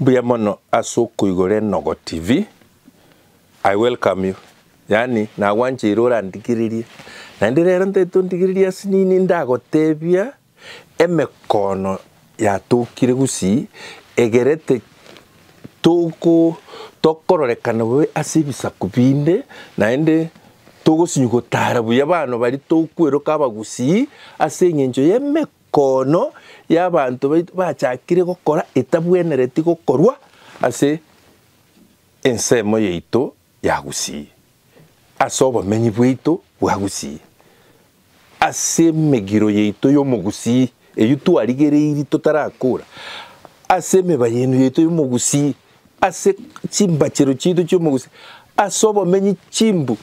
Mbuya mono ase okoigora Enogo TV, I welcome you, yaani nagwancheire orandigererie, naende rero ntaete ondigererie ase nini ndagotebia emekono yatokire gusii egerete toko tokororekana bobe ase ebisaku binde naende togosinywa gotara buya abana baria tokweroka abagusii ase eng'encho y'emeko. Kono y'abanto baito bachakire gokora etabwenereti gokorwa ase ensemo yaito ya Gusii, ase obomenyi bwaito bwa Gusii, ase emegiro yaito y'Omogusii eyio twarigereirie totarakora, ase emebayenu yaito y'Omogusii, ase chimbachero chiaito chi'Omogusii, ase obomenyi chimbu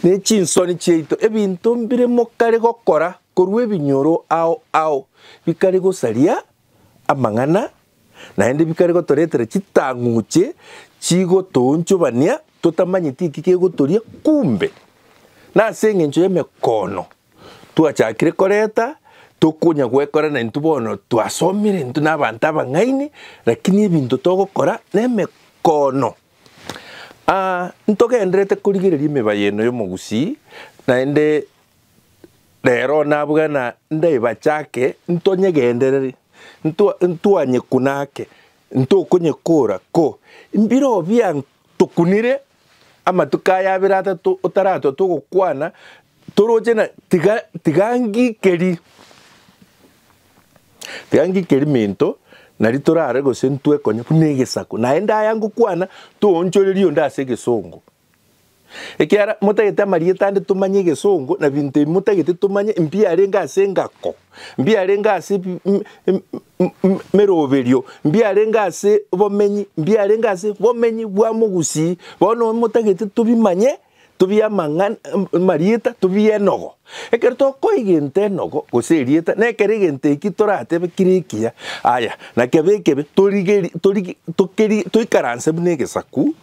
ne chinsoni chiaito, ebinto mbire mokare gokora. Korwa ebinyoro ao ao bikare gosaria amang'ana, naende bikare gotoretera chitang'uche chigotoonchobania totamanyeti eki kegotoria, kumbe nase engencho y'emekono twachakire koreta tokonya gwekora na intwe bono twasomire intwe nabanto abang'aini lakini ebinto togokora nemekono. Ntogenderete korigereria emebaye eno y'omogusii naende. Rero nabwena ndaibachake ntonyegendereri, ntwanyekunake, ntokonyekora ko, Mbire obia tokunire amatuko aya abere atato otaratwa togokwana toroche na tiga tiga ngikeri tiga ngikeri minto nari torare gose ntwekonye buna egesaku naende aya ngokwana toonchoreria onde ase egesongo. Ekiagera motagete amarieta ande tomanye egesongo na binto ebi motagete tomanye mbiarenge ase engako, mbiarenge ase meroberio, mbiarenge ase bomenyi, mbiarenge ase bomenyi bwa mogusii. Bono motagete tobimanye tobie amarieta tobie enogo. Ekero tokoa egento enogo gose erieta nekero egento eki toratebe kire ekiya. Aya na kebe ekebe toikaranse buna egesaku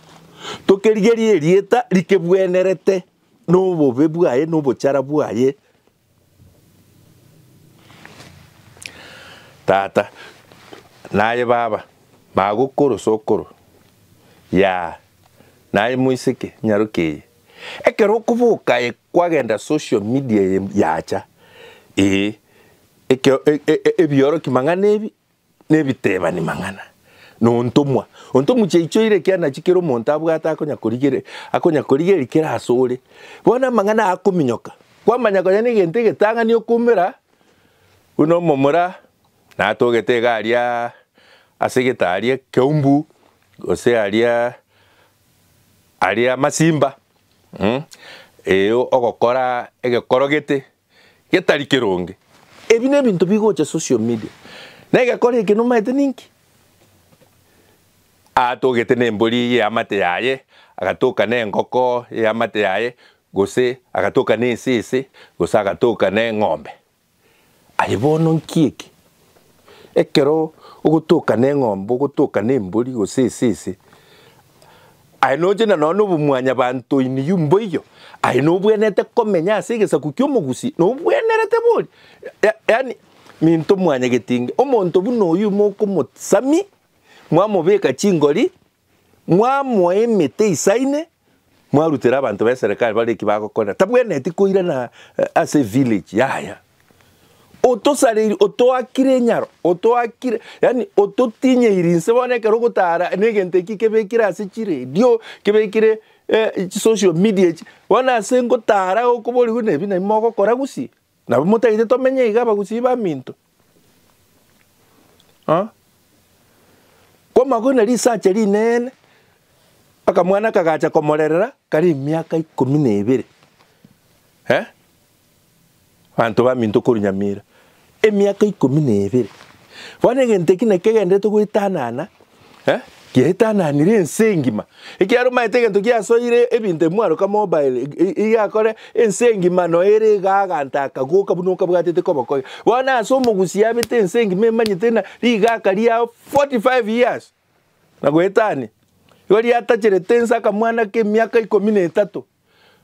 Tokerigerie erieta rikebwenerete nobobe bwaye na obochara bwaye, Tata, naye Baba, magokoro sokoro, Yaa, naye moiseke, nyaroke eye. Ekero okoboka aye kwagenda social media eye yacha, ee, ekero, e, e, e, ebioroki mang'ana ebi, Nebitebani mang'ana na ontomwa, ontomwa chiaichoire ekiana chikere omonto abwate akonyakorigereria, akonyakorigereria kere asore. Bono amang'ana akominyoka, kwamanya konya negento egetang'ani okoumera buna omomura natogete iga aria ase gete aria ekeumbu gose aria aria amasimba, eeh ogokora egekorogete getari keronge. Ebi nebinto bigocha social media na egekora eke nomaete ninki? Atogete nembori y'eamate yaye, agatoka nengoko y'eamate yaye, gose agatoka nesese, gose agatoka neng'ombe. Aye bono nki eke? Ekero ogotoka neng'ombe, ogotoka nembori gose esese, aye noche na nonya obomwanyabanto in you mboiyo, aye nobwenerete komenya ase egesaku ki'omogusi, nobwenerete boria. Ya- yaani minto mwanyegetinge, omonto buna oyio mokomosamia, mwamobeka chingori. Mwamoa emete isaine, mwarutera abanto b'eserekari bare eki bagokora, tabwenereti koirana ase evillage yaya. Otosareiri, otoakire enyaro, otoakire, yani ototinyeiri inse bono ekero ogotara negento eki kebekire ase chiredio, kebekire chisocial media echi, bono ase ngotara okoborigwe nebi nabi mogokora gusii. Nabo motaite tomenye iga abagusii baminto. Ah. Komago na risache rinene akamwana kagacha komorerera kari emiaka ikomi na ebere. Eh? Banto baminto koru Nyamira. Emiaka ikomi na ebere. Bono egento eki nakegenderete goitanana Eh? Giaitananire ense engima. Ekiaro maete egento giasoire ebinto emwaroka mobile igakore ense engima no ere gaganta akagoka buna okabwatete kobokoya. Bona ase omogusi yabete ense engima emanyete na rigaka riao 45 years. Na goetania. Igo riatacharete ense akamwana ke miaka ikomi na etato.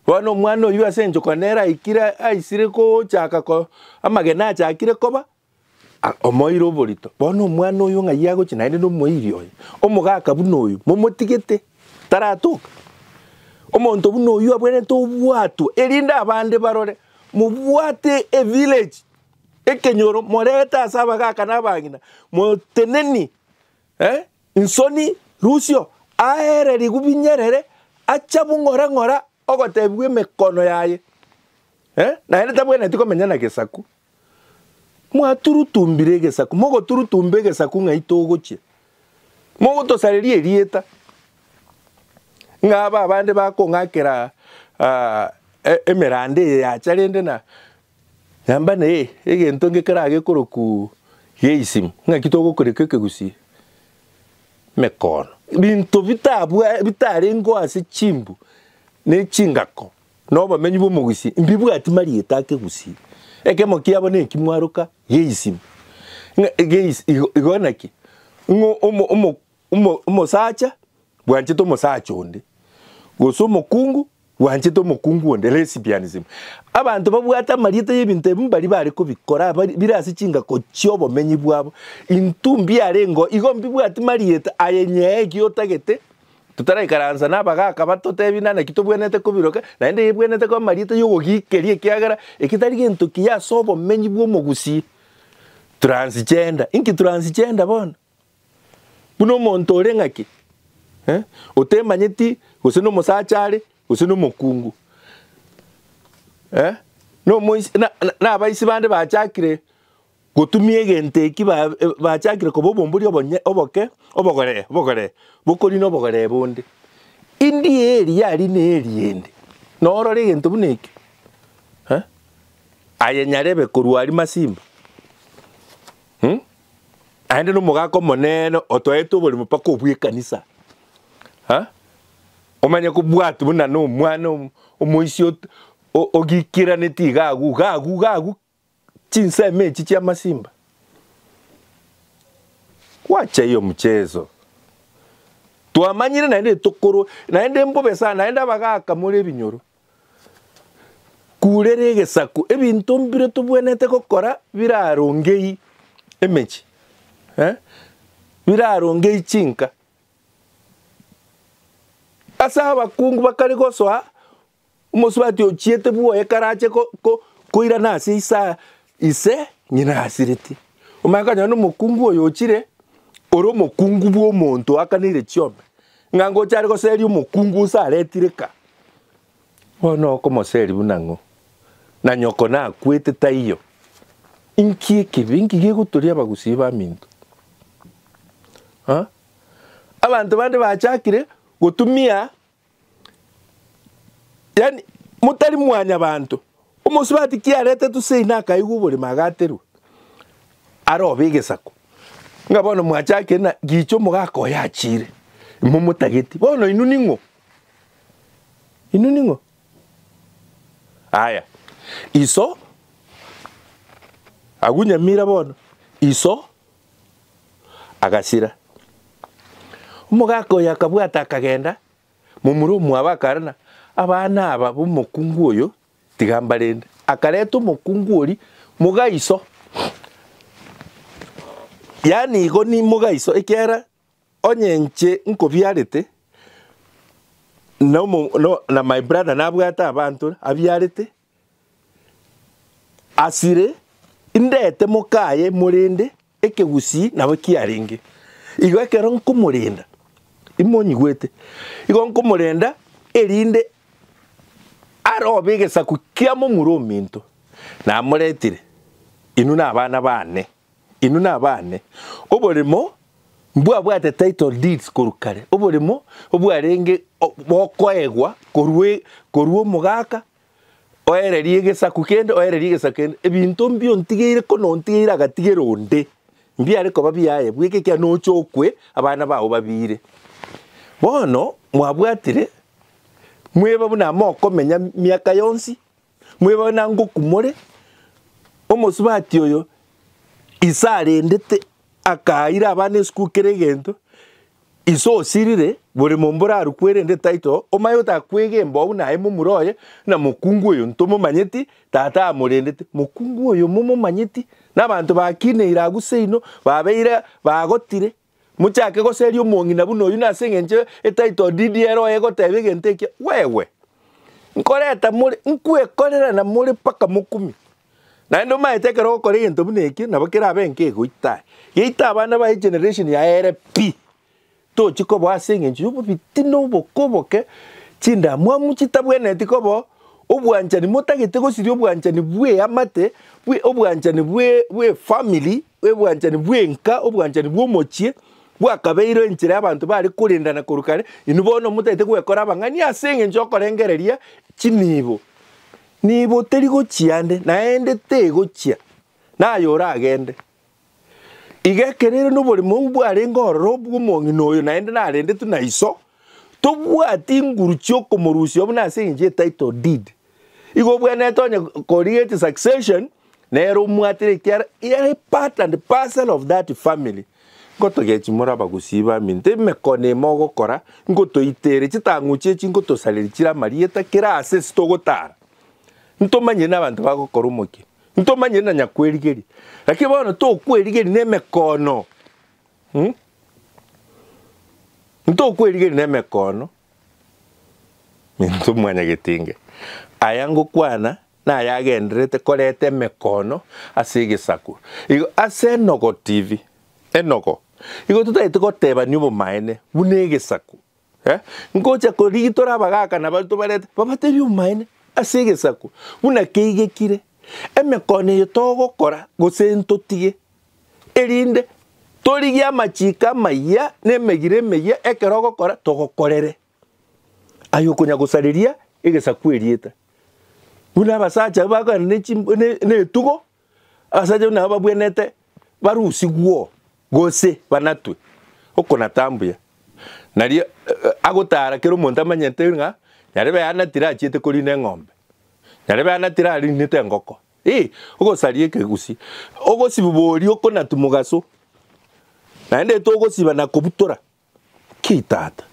Bona omwana oyu ase enchoko nera aikire aisire kochaka ko amagena achakire koba Omoeire oborito. Bono omwana oyo ng'ai agochia naende nomoiri oye. Omogaka buna oyo, momotigete, taratoka. Omonto buna oyo abwenerete obwatwa, erinde abande barore, mobwate evillage, ekenyoro, morete ase abagaka na abang'ina, moteneni eh, nsoni, rusio, aere rigubi nyerere, acha bung'ora ng'ora, Ogotebigwa emekono yaye, naende tabwenereti komenya na gesaku. Mwaturutumbire egesaku, mogoturutumba egesaku ng'ai togochia? Mogotosareria erieta, ng'a aba abande bakong'akera emeranda eye yacha rende na Nyomba neye egento nge keraha gekorokwu Geisimu, ng'aki togokoreka ekegusii emekoono? Binto bitabwa bitarengeo ase chimbu ne chingako na obomenyi bw'omogusii mbibwati marieta akegusii. Ekemo kiabo neki mwaroka Geisimu. Ng'a Geis igo igo naki ng'o omo omo Omosacha bwanchete omosacha onde, gose omokungu bwanchete omokungu onde, lesbianism. Abanto babwate amarieta y'ebinto ebi mbari bare kobikora bire ase chingako chi'obomenyi bwabo. Intwe mbiarengeo igo mbibwati marieta aye nyee ki otagete totaraikaransa nabagaka batotebie nana ki tobwenerete kobiroka naende ebwenerete koba marieta y'ogogiikeria ekiagera eki tari gento kiya ase obomenyi bw'omogusii. Transgender, inki transgender bono? Buna omonto ore ng'ake, otemanyeti gose nomosacha are, gose nomokungu, nabaisi bande bachakire gotumia egento eki bachakire koba obombori oboke, obogoree, obogoree, bokorina obogoree bonde. Indie eri yarina erinde, norore egento buna ekio, aye nyarebe korwa aria masimba. Naende nomogaka omonene otwaete oborimo mpaka obw'ekanisa, ha? omanye kobwati buna nomwana omoisia ot- o- ogikiraneti iga agwo iga agwo iga agwo chinsemo echi chi'amasimba. Gwacha hiyo mchezo. Twamanyire naende tokorwa naende mbobe sana naende abagaka more ebinyoro. Kurera egesaku ebinto mbire tobwenerete gokora birarongei emechie, eh, birarongei chinka. Ase abakungu bakare gosoa omosubati ochiete bwoye karache ko- ko- koirana ase esaa. Ise ng'ina asireti, omanye konyora nomokungu oyo ochire, ore omokungu bw'omonto oakaneire chiombe, ng'a ngocha are goseria omokungu ose aretire ka. Bono okomoseria buna ng'o? Na nyoko nakwete taiyo. Inki ekibe? Inki gegotoria abagusii baminto? Ha? Abanto bande bachakire gotumia Yaani motari mwanyabanto. Omosubati kiarete tusei na akaigwa oborimo agaterwa. Arobe egesako. Nga bono mwachakire na gicha omogaka oyo achire. Momotageti. Bono inu ning'o? Inu ning'o? Aya. Iso. Agunyamira bono. Iso. agasira. Omogaka oyo akabwata akagenda, momura omwabo akarora, Abana aba b'omokungu oyo tiga mbarende. Akareta omokungu oria mogaiso, yaani igo ni mogaiso, ekiagera onye inche nkobiarete, na my brother nabwate abanto abiarete, Asire, indete mokaye morende ekegusii nabo kiarenge. Igo ekero nkomorenda, imonyigwete, igo nkomorenda erinde arobe egesaku kia momura ominto. Namoretire, inwe nabana baane. Inwe nabane, oboremo mbwabwate title deeds korwa kare, oboremo obwarenge bokoegwa korwa korwa omogaka oererie egesaku kende, oererie egesaku kende, ebinto mbio ntigeire ko nontigeire agatigera onde, mbiare koba biaye bweka ekiagera nocha okwe abana bao babiire. Bono mwabwatire mweba buna mokomenya miaka yonsi, Mweboe na ngoku more, omosubati oyo ise arendete akaira abana esukuru kera egento, ise osirire bore momba orarukwe erende title omanye gotaka kwega embao buna aye momura oye na mokungu oyo ntomomanyeti tata amorendete mokungu oyo momomanyeti na abanto bakineire agwo seino babeire bagotire Mochake goseria omong'ina buna oyio, na ase engencho e title deed ere oye egoteba egento ekio, wewe, nkoreta more, nkwekorera na more mpaka mokumi. Naende omaete ekero ogokora egento buna ekio, nabo kerabe enka egoita aye. Geita abana baye generation yaye ere pi, tochi koboa ase engencho ya obobitina oboke oboke, chindamwamu chitabwenereti koba, obwanchani motagete gosiria obwanchani bw'eamate, bwe obwanchani bwe bw'efamiri, Obwanchani bw'enka, obwanchani bw'omochie, bwakabeirwe enchera y'abanto baare korendana korwa kare, inwe bono motaete gwekora abang'ani ase engencho y'okorengereria chinibo. Nibo teri gochia ande, naende tegochia, naye oragende. Iga ekero ere noborimo obwo bwarenge ororo obw'omong'ina oyo, naende narendetwe na iso, tobwati inguru chi'okomorusia obo nase engencho ye title deed, Igo obwenerete onye korigetie succession nere omwatire ekiara he are part and parcel of that family nkotogechi more abagusii baminto emekone ime ogokora nkotoitere chitang'uchi echi nkotosareri chire amarieta kera ase ase togotara ntomanyire n'abanto bagokora omokia ntomanyire na nyakwerigeria lakini bono tokwerigeria nemekono hmm? ntokwerigeria nemekono Minto mwanyagetenge, aya ngokwana nayagendererete koreta emekoono ase egesaku. Igo ase enogo TV, enogo, igo totagete gotebania obomaene buna egesaku. Eh, ngocha ko rigi tore abagaka na baria tobarete, babatebie obomaene ase egesaku buna keigekire. Emekoono eye togokora gose ntotige erinde torigie amachiiko amayia na emegiro emeyia ekero ogokora togokorere aye okonya gosareria egesaku erieta. Buna abasacha bagana ne chi ne etugo, abasacha buna aba babwenete barusigwo gose banatwe, okona tambuya. Nario agotara kera omonto amanyete ng'a nyarebe anatire achiete korina eng'ombe, nyarebe anatire arinete engoko, Ee, ogosaria ekegusii, ogosibu boria okonatu mogaso, naende togosiba na kobutora. Ki Tata?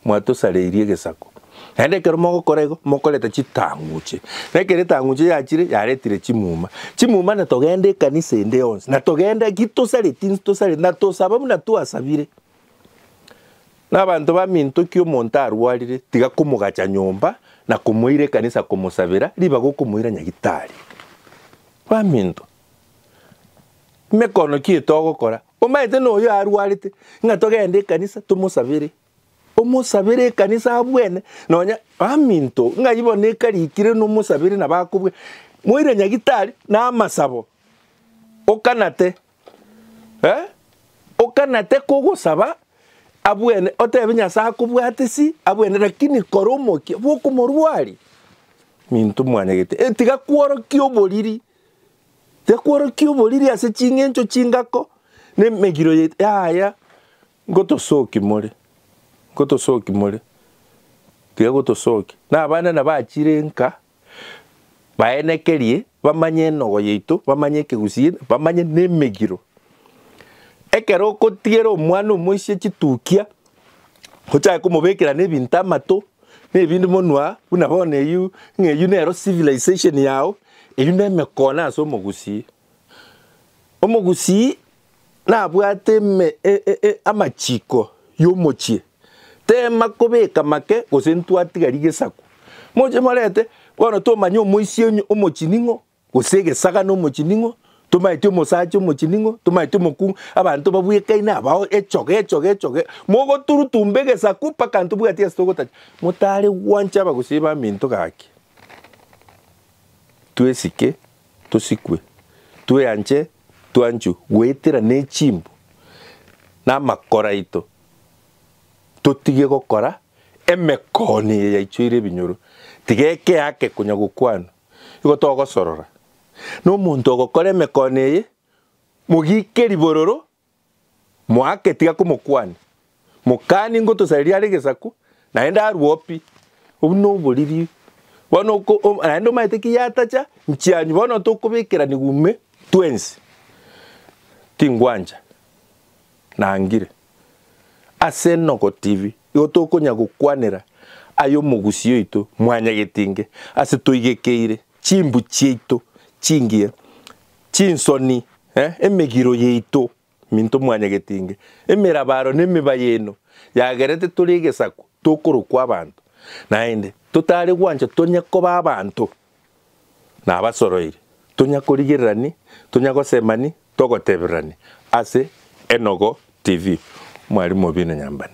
Mwatosareirie egesako. Naende ekero mogokora igo, mokoreta chitang'uche. Na ekero etang'uche yachire, yaretire chimuma. Chimuma na togenda ekanisa ende yonsi, na togenda ki tosareti, nsi tosareti, na tosaba buna twasabire. Nabanto bamintokia omonto arwarire, tiga komogacha nyomba na komoira ekanisa komosabera, ribaga okomoira nyagitari. Baminto, mekono ki etogokora? Omanyete noyo arwarete, ng'a togende ekanisa tomosabere. Omosabere ekanisa abwene, nonya baminto, ng'ai bono ekarikire nomosabere nabo akobua. Moire nyagitari na amasabo, okanate Eh, okanate kogosaba abwene, otebe Nyasae akobwate si abwene, lakini kora omokia bw'okomorwari minto mwanyagete. Eh, tiga kworokia oboriri, tiga kworokia oboriri ase ching'encho chingako na emegiro ye- yaya ngotosoki more, ngotosoki more, tiga gotosoki. Na abana nabachire nka. baenekerie, bamanye enogo yaito, bamanye ekegusii, bamanye na emegiro. Ekero okotiera omwana omoisia chitukia, ochake komobekera na ebinto amato, na ebinto monwa, buna bono eywo, ng'a eywo nero civilization yao, eywo na emekoono ase omogusii. Omogusii nabwate amachiko y'omochie, teema kobeka make gose ntwatiga rigesaku. Moche morente bono tomanye omoisia onye omochie ning'o, gose egesaga na omochie ning'o, tomaeti omosacha omochie ning'o, tomaeti omokungu, abanto babwekaine abao echoge echoge echoge, mogoturutumba egesaku mpaka ntobwati ase togotacha. Motare gwancha abagusii b'aminto gaki, twesike. tosikwe, tweanche twanchwe goetera nechimbu namakoro aito, totige gokora emekooni eye yaichoire ebinyoro. Tiga ekeake konya gokwanwa, igo togosorora. Na omonto ogokora emekooni eye, mogike ribororo Moake tiga komokwania, Mokani ngotosareria are gesaku, naende arue o pi? Obwo noboriri bono naende omaete ki yatacha nchianyu bono tokobekeraniwa ime twensi. Tingwancha nangire. Ase nogotibi igo tokonya gokwanera ay'omogusi oito mwanyagetinge ase toigekeire. chimbu chiaito chingiya, chinsoni, emegiro yaito, minto mwanyagetinge, emerabaro na emeba yaino yagerete tore egesaku tokorokwa abanto, naende totare gwancha tonya koba abanto na abasoroiri, tonya korigererani, tonya gosemani, togotebererani ase Enogo TV. Mwarimu obi na Nyambane.